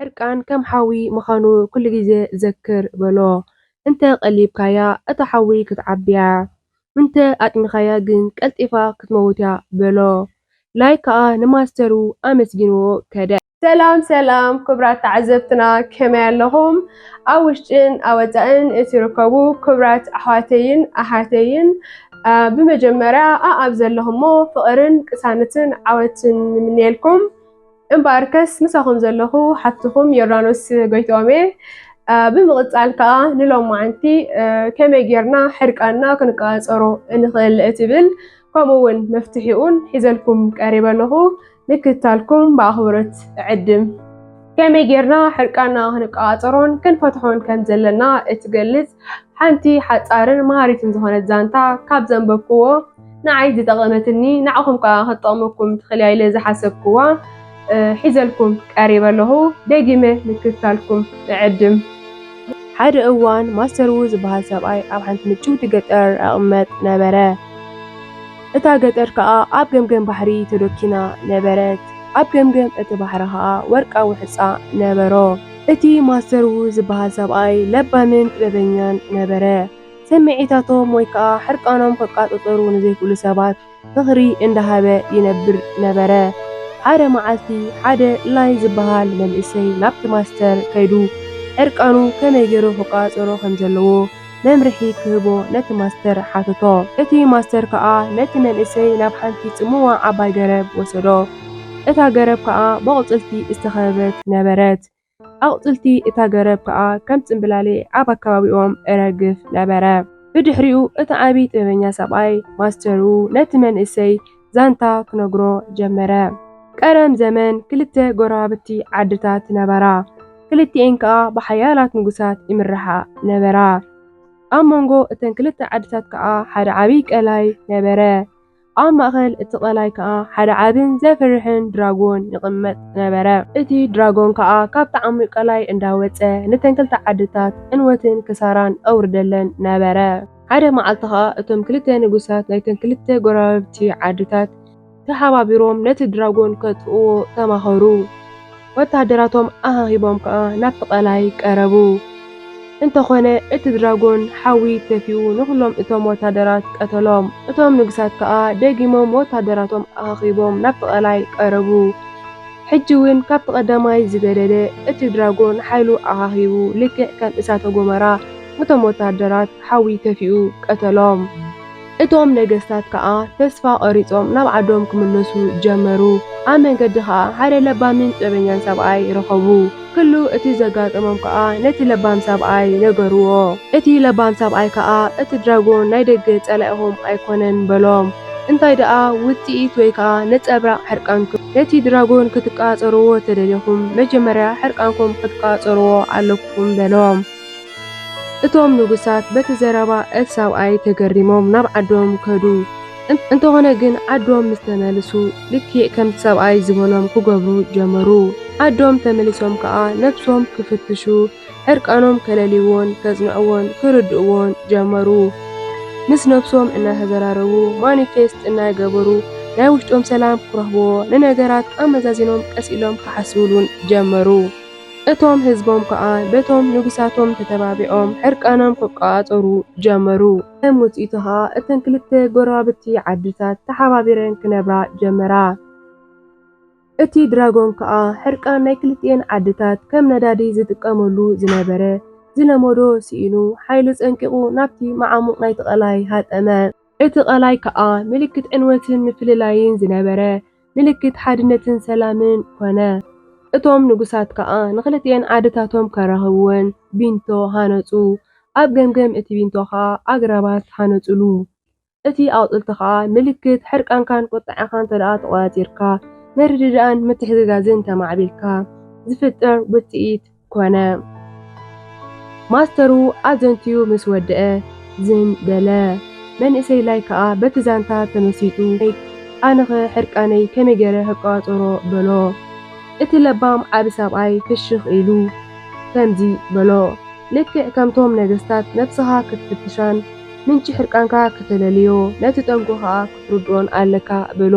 ሕርቃን ከም ሓዊ ምኻኑ ኩሉ ግዜ ዘክር በሎ እንተ ቀሊብካያ እታ ሓዊ ክትዓቢያ እንተ ኣጥሚካያ ግን ቀልጢፋ ክትመውትያ በሎ ላይክ ከኣ ንማስተሩ ኣመስጊንዎ ከደ። ሰላም ሰላም ክብራት ተዓዘብትና ከመይ ኣለኹም? ኣብ ውሽጥን ኣብ ወፃእን እትርከቡ ክብራት ኣሕዋተይን ኣሓተይን ብመጀመርያ ኣኣብ ዘለኹሞ ፍቕርን ቅሳነትን ዓወትን ንምንየልኩም። እምበኣርከስ ምሳኹም ዘለኹ ሓፍትኹም ዮርዳኖስ ጎይትኦም እየ። ብምቕፃል ከዓ ንሎም መዓንቲ ከመይ ጌርና ሕርቃና ክንቀፃፀሮ እንኽእል እትብል ከምኡ እውን መፍትሒኡን ሒዘልኩም ቀሪበ ኣለኹ። ምክትታልኩም ብኣኽብሮት እዕድም። ከመይ ጌርና ሕርቃና ክንቆጻጸሮን ክንፈትሖን ከም ዘለና እትገልጽ ሓንቲ ሓጻርን መሃሪትን ዝኾነት ዛንታ ካብ ዘንበብክዎ ንዓይ ዝጠቐመትኒ ንዓኹም ከኣ ክትጠቕመኩም ትኽእል ኢለ ዝሓሰብክዋ ሒዘልኩም ቀሪበ ኣለኹ። ደጊመ ምክትታልኩም እዕድም። ሓደ እዋን ማስተር ዉ ዝበሃል ሰብኣይ ኣብ ሓንቲ ምጭውቲ ገጠር እቕመጥ ነበረ። እታ ገጠር ከኣ ኣብ ገምገም ባሕሪ ተዶኪና ነበረት። ኣብ ገምገም እቲ ባሕሪ ከኣ ወርቃዊ ሕጻ ነበሮ። እቲ ማስተር ዉ ዝበሃል ሰብኣይ ለባምን ጥበበኛን ነበረ። ስምዒታቶም ወይ ከኣ ሕርቃኖም ክቛጸጸሩ ንዘይክእሉ ሰባት ምኽሪ እንዳሃበ ይነብር ነበረ። ሓደ መዓልቲ ሓደ ላይን ዝበሃል መንእሰይ ናብቲ ማስተር ከይዱ ሕርቃኑ ከመይ ጌሩ ክቛጸጸሮ ከም ዘለዎ መምርሒ ክህቦ ነቲ ማስተር ሓተቶ። እቲ ማስተር ከኣ ነቲ መንእሰይ ናብ ሓንቲ ጽምዋ ዓባይ ገረብ ወሰዶ። እታ ገረብ ከኣ በቑጽልቲ ዝተኸበበት ነበረት። ኣቑጽልቲ እታ ገረብ ከኣ ከም ጽምብላሊዕ ኣብ ኣከባቢኦም እረግፍ ነበረ። ብድሕሪኡ እቲ ዓቢ ጥበበኛ ሰብኣይ፣ ማስተሩ፣ ነቲ መንእሰይ ዛንታ ክነግሮ ጀመረ። ቀደም ዘመን ክልተ ጎረባብቲ ዓድታት ነበራ። ክልቲኤን ከኣ ብሓያላት ንጉሳት ይምረሓ ነበራ። ኣብ መንጎ እተን ክልተ ዓድታት ከኣ ሓደ ዓብዪ ቀላይ ነበረ። ኣብ ማእኸል እቲ ቀላይ ከኣ ሓደ ዓብን ዘፍርሕን ድራጎን ይቕመጥ ነበረ። እቲ ድራጎን ከኣ ካብቲ ዓሚቕ ቀላይ እንዳወጸ ነተን ክልተ ዓድታት ዕንወትን ክሳራን ኣውርደለን ነበረ። ሓደ መዓልቲ ኸኣ እቶም ክልተ ንጉሳት ናይተን ክልተ ጎረባብቲ ዓድታት ተሓባቢሮም ነቲ ድራጎን ከጥፍእዎ ተማኸሩ። ወተሃደራቶም ኣኻኺቦም ከኣ ናብቲ ቀላይ ቀረቡ። እንተኾነ እቲ ድራጎን ሓዊ ተፊኡ ንኹሎም እቶም ወተሃደራት ቀተሎም። እቶም ንጉሳት ከኣ ደጊሞም ወተሃደራቶም ኣኻኺቦም ናብቲ ቀላይ ቀረቡ። ሕጂ እውን ካብቲ ቀዳማይ ዝገደደ እቲ ድራጎን ሓይሉ ኣኻኺቡ ልክዕ ከም እሳተ ጎመራ እቶም ወተሃደራት ሓዊ ተፊኡ ቀተሎም። እቶም ነገስታት ከኣ ተስፋ ቘሪጾም ናብ ዓዶም ክምለሱ ጀመሩ። ኣብ መንገዲ ኸኣ ሓደ ለባምን ጥበበኛን ሰብኣይ ረኸቡ። ኵሉ እቲ ዘጋጠሞም ከኣ ነቲ ለባም ሰብኣይ ነገርዎ። እቲ ለባም ሰብኣይ ከኣ እቲ ድራጎን ናይ ደገ ጸላኢኹም ኣይኰነን በሎም። እንታይ ደኣ ውጽኢት ወይ ከኣ ነጸብራቕ ሕርቃንኩም። ነቲ ድራጎን ክትቘጻጸርዎ ተደሊኹም መጀመርያ ሕርቃንኩም ክትቈጻጸርዎ ኣለኩም በሎም። እቶም ንጉሳት በቲ ዘረባ እቲ ሰብኣይ ተገሪሞም ናብ ዓዶም ከዱ። እንተኾነ ግን ዓዶም ምስ ተመልሱ ልክዕ ከምቲ ሰብኣይ ዝበሎም ክገብሩ ጀመሩ። ዓዶም ተመሊሶም ከኣ ነብሶም ክፍትሹ ዕርቃኖም ከለልይዎን ከጽንዕዎን ክርድእዎን ጀመሩ። ምስ ነብሶም እናተዘራረቡ ማኒፌስት እናገበሩ ናይ ውሽጦም ሰላም ክረኽብዎ ንነገራት ኣመዛዚኖም ቀስ ኢሎም ክሓስብሉን ጀመሩ። እቶም ህዝቦም ከኣ በቶም ንጉሳቶም ተተባቢዖም ሕርቃኖም ክቆጻጸሩ ጀመሩ። ከም ውጽኢቱ ከኣ እተን ክልተ ጎረባብቲ ዓድታት ተሓባቢረን ክነብራ ጀመራ። እቲ ድራጎን ከኣ ሕርቃን ናይ ክልቲኤን ዓድታት ከም ነዳዲ ዝጥቀመሉ ዝነበረ ዝለመዶ ስኢኑ ሓይሉ ጸንቂቑ ናብቲ መዓሙቕ ናይቲ ቀላይ ሃጠመ። እቲ ቀላይ ከኣ ምልክት ዕንወትን ምፍልላይን ዝነበረ ምልክት ሓድነትን ሰላምን ኮነ። እቶም ንጉሳት ከኣ ንኽልቲኤን ዓድታቶም ከራኽብወን ቢንቶ ሃነጹ፣ ኣብ ገምገም እቲ ቢንቶ ከኣ ኣግራባት ሃነጹሉ። እቲ ኣቑጽልቲ ከኣ ምልክት ሕርቃንካን ቁጥዐኻን እንተደኣ ተቖጻጺርካ፣ ምርድዳእን ምትሕግጋዝን ተማዕቢልካ ዝፍጠር ውጽኢት፣ ኮነ። ማስተሩ ኣዘንትዩ ምስ ወደኣ ዝን በለ። መንእሰይ ላይ ከኣ በቲ ዛንታ ተመሲጡ ላይክ ኣነኸ ሕርቃነይ ከመይ ገይረ ክቋጸሮ በሎ። እቲ ለባም ዓቢ ሰብኣይ ፍሽኽ ኢሉ ከምዚ በሎ ልክዕ ከምቶም ነገስታት ነብስኻ ክትፍትሻን ምንጪ ሕርቃንካ ክተለልዮ ነቲ ጠንቁ ከኣ ክትርድኦን ኣለካ በሎ።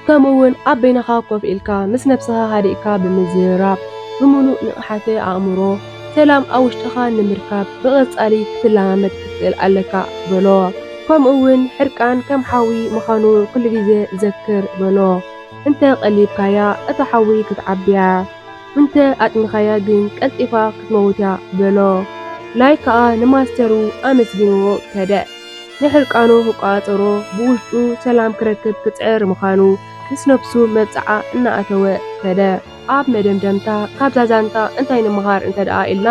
ከምኡ ውን ኣብ በይንኻ ኮፍ ኢልካ ምስ ነብስኻ ሃዲእካ ብምዝርራብ ብምሉእ ንቕሓተ ኣእምሮ ሰላም ኣብ ውሽጥኻ ንምርካብ ብቐጻሊ ክትለማመድ ክትክእል ኣለካ በሎ። ከምኡ ውን ሕርቃን ከም ሓዊ ምዃኑ ኩሉ ግዜ ዘክር በሎ። እንተ ቀሊብካያ እታ ሓዊ ክትዓቢ'ያ፣ እንተ ኣጥሚኻያ ግን ቀልጢፋ ክትመውት'ያ በሎ። ላይክ ከኣ ንማስተሩ ኣመስጊንዎ ከደ። ንሕርቃኑ ክቆጻጸሮ ብውሽጡ ሰላም ክረክብ ክጽዕር ምኻኑ ምስ ነብሱ መብጽዓ እናኣተወ ከደ። ኣብ መደምደምታ ካብዛ ዛንታ እንታይ ንምሃር እንተድኣ ኢልና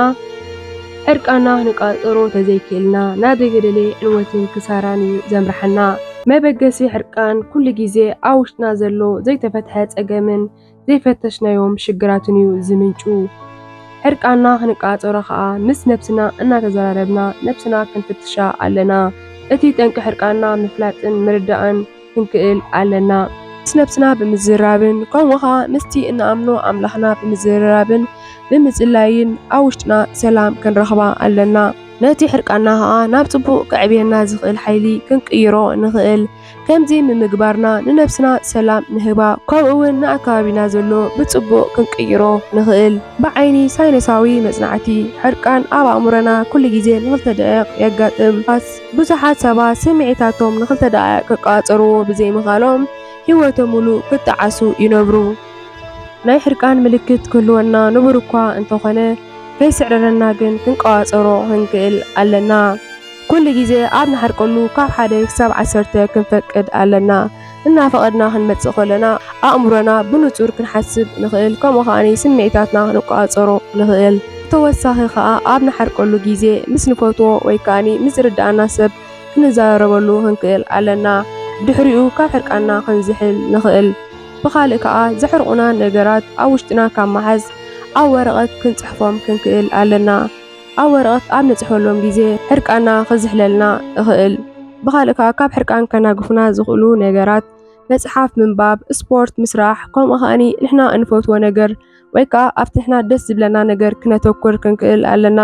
ሕርቃንና ንቃጸሮ ተዘይክኢልና ናብ ዘይተደልየ ዕንወትን ክሳራን እዩ ዘምርሓና። መበገሲ ሕርቃን ኩሉ ግዜ ኣብ ውሽጥና ዘሎ ዘይተፈትሐ ጸገምን ዘይፈተሽናዮም ሽግራትን እዩ ዝምንጩ። ዕርቃና ክንቃጸሮ ከኣ ምስ ነብስና እናተዘራረብና ነብስና ክንፍትሻ ኣለና። እቲ ጠንቂ ሕርቃንና ምፍላጥን ምርዳእን ክንክእል ኣለና። ምስ ነብስና ብምዝርራብን ከምኡ ከኣ ምስቲ እንኣምኖ ኣምላኽና ብምዝርራብን ብምጽላይን ኣብ ውሽጥና ሰላም ክንረኽባ ኣለና። ነቲ ሕርቃንና ከኣ ናብ ጽቡቕ ከዕብየና ዝኽእል ሓይሊ ክንቅይሮ ንኽእል። ከምዚ ምምግባርና ንነብስና ሰላም ንህባ ከምኡ ውን ንኣከባቢና ዘሎ ብጽቡቕ ክንቅይሮ ንኽእል። ብዓይኒ ሳይነሳዊ መጽናዕቲ፣ ሕርቃን ኣብ ኣእምሮና ኩሉ ግዜ ንክልተ ደቒቕ የጋጥም። ዳስ፣ ብዙሓት ሰባት ስምዒታቶም ንክልተ ደቓይቕ ክቀጻጸርዎ ብዘይምኽኣሎም ህይወቶም ምሉእ ክጠዓሱ ይነብሩ። ናይ ሕርቃን ምልክት ክህልወና ንቡር'ኳ እንተኾነ፣ ከይስዕረረና ግን ክንቆጻጸሮ ክንክእል ኣለና። ኩሉ ግዜ ኣብ ንሓርቀሉ ካብ ሓደ ክሳብ ዓሰርተ ክንፈቅድ ኣለና። እናፈቐድና ክንመጽእ ከሎና ኣእምሮና ብንጹር ክንሓስብ ንኽእል ከምኡ ከኣ ስምዒታትና ክንቆጻጸሮ ንኽእል። ብተወሳኺ ከኣ ኣብ ንሓርቀሉ ግዜ ምስ ንፈትዎ ወይ ከኣ ምስ ዝርድኣና ሰብ ክንዘራረበሉ ክንክእል ኣለና። ብድሕሪኡ ካብ ሕርቃንና ክንዝሕል ንኽእል። ብኻልእ ከኣ ዘሕርቑና ነገራት ኣብ ውሽጥና ካብ ምሓዝ ኣብ ወረቐት ክንጽሕፎም ክንክእል ኣለና። ኣብ ወረቐት ኣብ ንጽሕፈሎም ግዜ ሕርቃንና ክዝሕለልና እኽእል። ብኻልእ ከኣ ካብ ሕርቃን ከናግፉና ዝኽእሉ ነገራት መጽሓፍ ምንባብ፣ ስፖርት ምስራሕ ከምኡ ከኣኒ ንሕና እንፈትዎ ነገር ወይ ከኣ ኣብቲ ንሕና ደስ ዝብለና ነገር ክነተኩር ክንክእል ኣለና።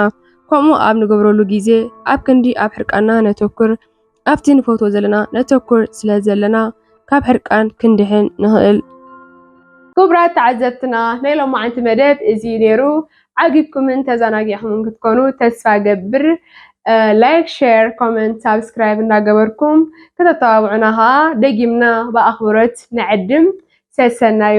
ከምኡ ኣብ ንገብረሉ ግዜ ኣብ ክንዲ ኣብ ሕርቃንና ነተኩር ኣብቲ ንፈትዎ ዘለና ነተኩር ስለ ዘለና ካብ ሕርቃን ክንድሕን ንኽእል። ክቡራት ተዓዘብትና ናይ ሎማዓንቲ መደብ እዚ እዩ ነይሩ። ዓጊብኩምን ተዘናጊዕኹምን ክትኮኑ ተስፋ ገብር። ላይክ፣ ሼር፣ ኮመንት፣ ሳብስክራይብ እንዳገበርኩም ከተተባብዑና ከዓ ደጊምና ብኣኽብሮት ንዕድም። ሰሰናዩ!